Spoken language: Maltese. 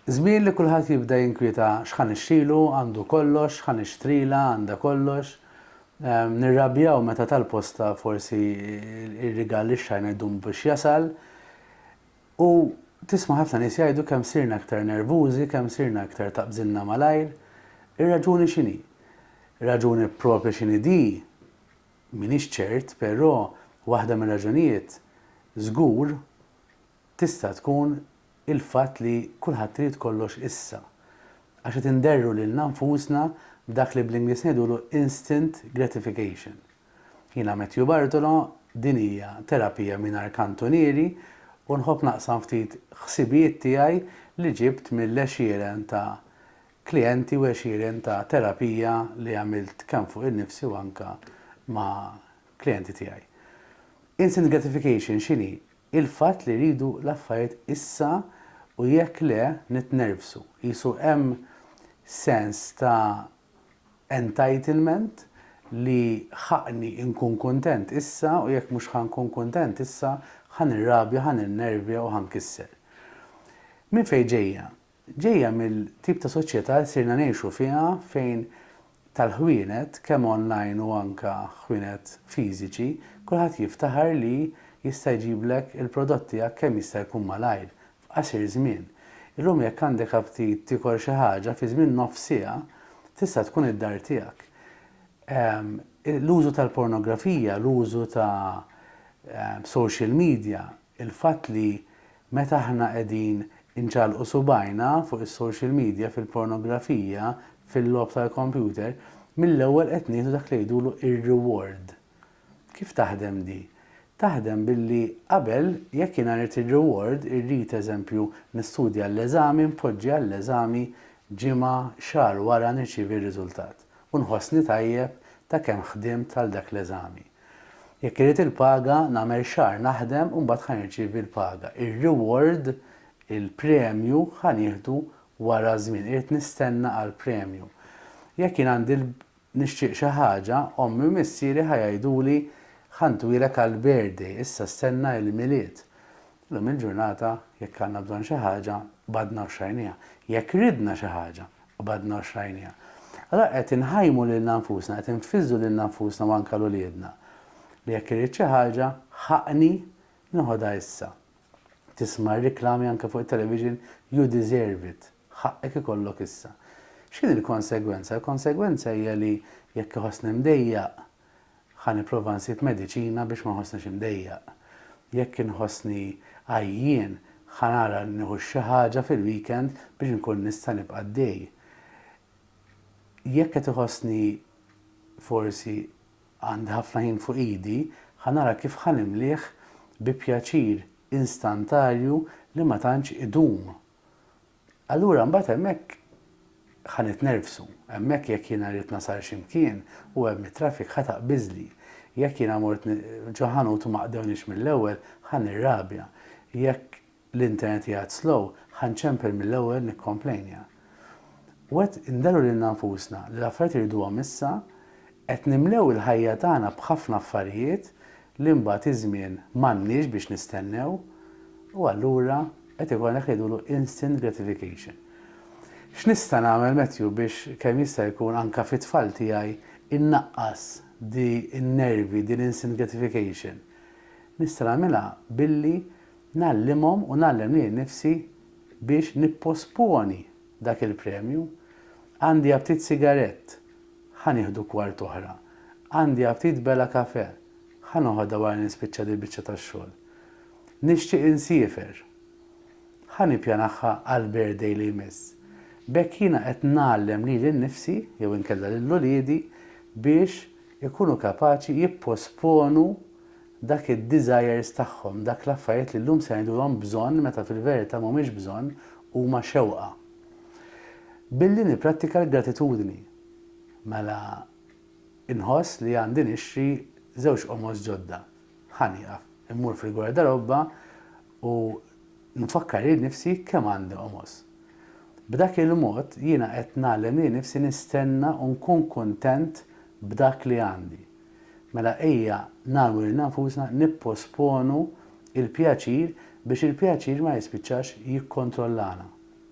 Żmien li kulħadd jibda jinkwieta x'ħa nixtrilu, għandu kollox, x'ħa nixtrilha, għandha kollox. Nirrabjaw meta tal-posta forsi r-rigal li xtrajna jdum biex jasal. U tisma' ħafna nies jgħidu kemm sirna iktar nervużi, kemm sirna iktar taqbżilna malajr. Ir-raġuni x'inhi? Raġuni proprja x'inhi di m'iniex ċert, però waħda mir-raġunijiet żgur tista' tkun il-fatt li kulħadd irid kollox issa, għax qed inderru lilna nfusna b'dak li bl-Ingliż ngħidulu instant gratification. Jiena Matthew Bartolo, din hija Terapija Mingħajr Kantunieri u nħobb naqsam ftit ħsibijiet tiegħi li ġibt mill-għexieren ta' klijenti u għexieren ta' terapija li għamilt kemm fuq innifsi u anke ma' klijenti tiegħi. Instant gratification x'inhi? Il-fatt li rridu l-affarijiet issa u jekk le nitnervsu. Qisu hemm sens ta' entitlement li ħaqqni nkun kuntent issa u jekk mhux ħa nkun kuntent issa ħa nirrabja, ħa ninnervja u ħa nkisser. Minn fejn ġejja Ġejja mill-tip ta' soċjetà li sirna ngħixu fiha fejn tal-ħwienet, kemm online u anke ħwienet fiżiċi, kulħadd jiftaħar li jista' jġiblek il-prodott tiegħek kemm jista' jkun malajr, f'qasir żmien. Illum jekk għandek aptit tiekol xi ħaġa, fi żmien nofs siegħa tista' tkun id-dar tiegħek. L-użu tal-pornografija, l-użu ta' social media il-fatt li meta aħna qegħdin inċallqu subgħajna fuq is-social media, fil-pornografija, fil-logħob tal-kompjuter, mill-ewwel qed nieħdu dak li jgħidulu r-reward. Kif taħdem di? Taħdem billi qabel jekk jiena rrid ir-reward, irrid, eżempju, nistudja għall-eżami, npoġġi għall-eżami ġimgħa, xahar wara nirċievi r-riżultat u nħossni tajjeb ta' kemm ħdimt għal dak l-eżami. Jekk irrid il-paga, nagħmel xahar naħdem u mbagħad ħa nirċievi l-paga. Ir-reward, il-premju, ħa nieħdu wara żmien. Irrid nistenna għall-premju. Jekk jien għandi l, nixtieq xi ħaġa, ommi u missieri ħa jgħiduli, Ħa ntwilek għall-birthday, issa stenna il-Milied. Llum il-ġurnata jekk għandna bżonn xi ħaġa, qbadna u xtrajnieha. Jekk ridna xi ħaġa, qbadna u xtrajnieha. Allura qed inħajmu lilna nfusna, qed infiżżu lilna nfusna u anke 'l uliedna li jekk irrid xi ħaġa, ħaqqni nieħodha issa. Tisma' r-riklami anke fuq it-television, you deserve it, ħaqqek ikollok issa. X'inhi l-konsegwenza? L-konsegwenza hija li jekk iħossni mdejjaq, Ħa nipprova nsib mediċina biex ma nħossnix imdejjaq. Jekk inħossni għajjien, ħa nara li nieħu xi ħaġa fil-weekend biex inkun nista' nibqa' għaddej. Jekk qed iħossni forsi għandi ħafna ħin fuq idi, ħa nara kif ħa nimlieh bi pjaċir instantarju li ma tantx idum. Allura mbagħad hemmhekk ħa nitnervsu. Hemmhekk jekk jiena rrid nasal xi mkien u hemm it-traffic ħa taqbiżli. Jekk jiena mort ġo ħanut u ma qdewniex mill-ewwel ħa nirrabja. Jekk l-internet qiegħed slow ħa nċempel mill-ewwel nikkomplejnja. U qed inderru lilna nfusna li l-affarijiet irriduhom issa, qed nimlew il-ħajja tagħna b'ħafna affarijiet li mbagħad iż-żmien m'għandniex biex nistennew u allura qed ikollna dak li jgħidulu instant gratification. X'nista' nagħmel Matthew biex kemm jista' jkun anke fit-tfal tiegħi innaqqas di n-nervi, din l-instant gratification? Nista' nagħmilha billi ngħallimhom u ngħallem lili nnifsi biex nipposponi dak il-premju. Għandi aptit sigarett, ħa nieħdu kwart oħra. Għandi aptit bela kafè, ħa noħodha wara li nispiċċa dil-biċċa tax-xogħol. Nixtieq insiefer, ħa nippjanahha għall-birthday li jmiss. B'hekk jiena qed ngħallem lili nnifsi jew inkella lil uliedi biex ikunu kapaċi jipposponu dak id-desires tagħhom, dak l-affarijiet li llum se ngħidulhom bżonn meta fil-verità mhumiex bżonn, huma xewqa. Billi nipprattika l-gratitudni, mela nħoss li għandi nixtri żewġ qomos ġodda. Ħa nieqaf, immur fil-gwardarobba u nfakkar lil nifsi kemm għandi qomos. B'dak il-mod jiena qed ngħallem lil nifsi nistenna u nkun kuntent b'dak li għandi. Mela ejja nagħmlu lilna nfusna nipposponu l-pjaċir biex il-pjaċir ma jispiċċax jikkontrollana.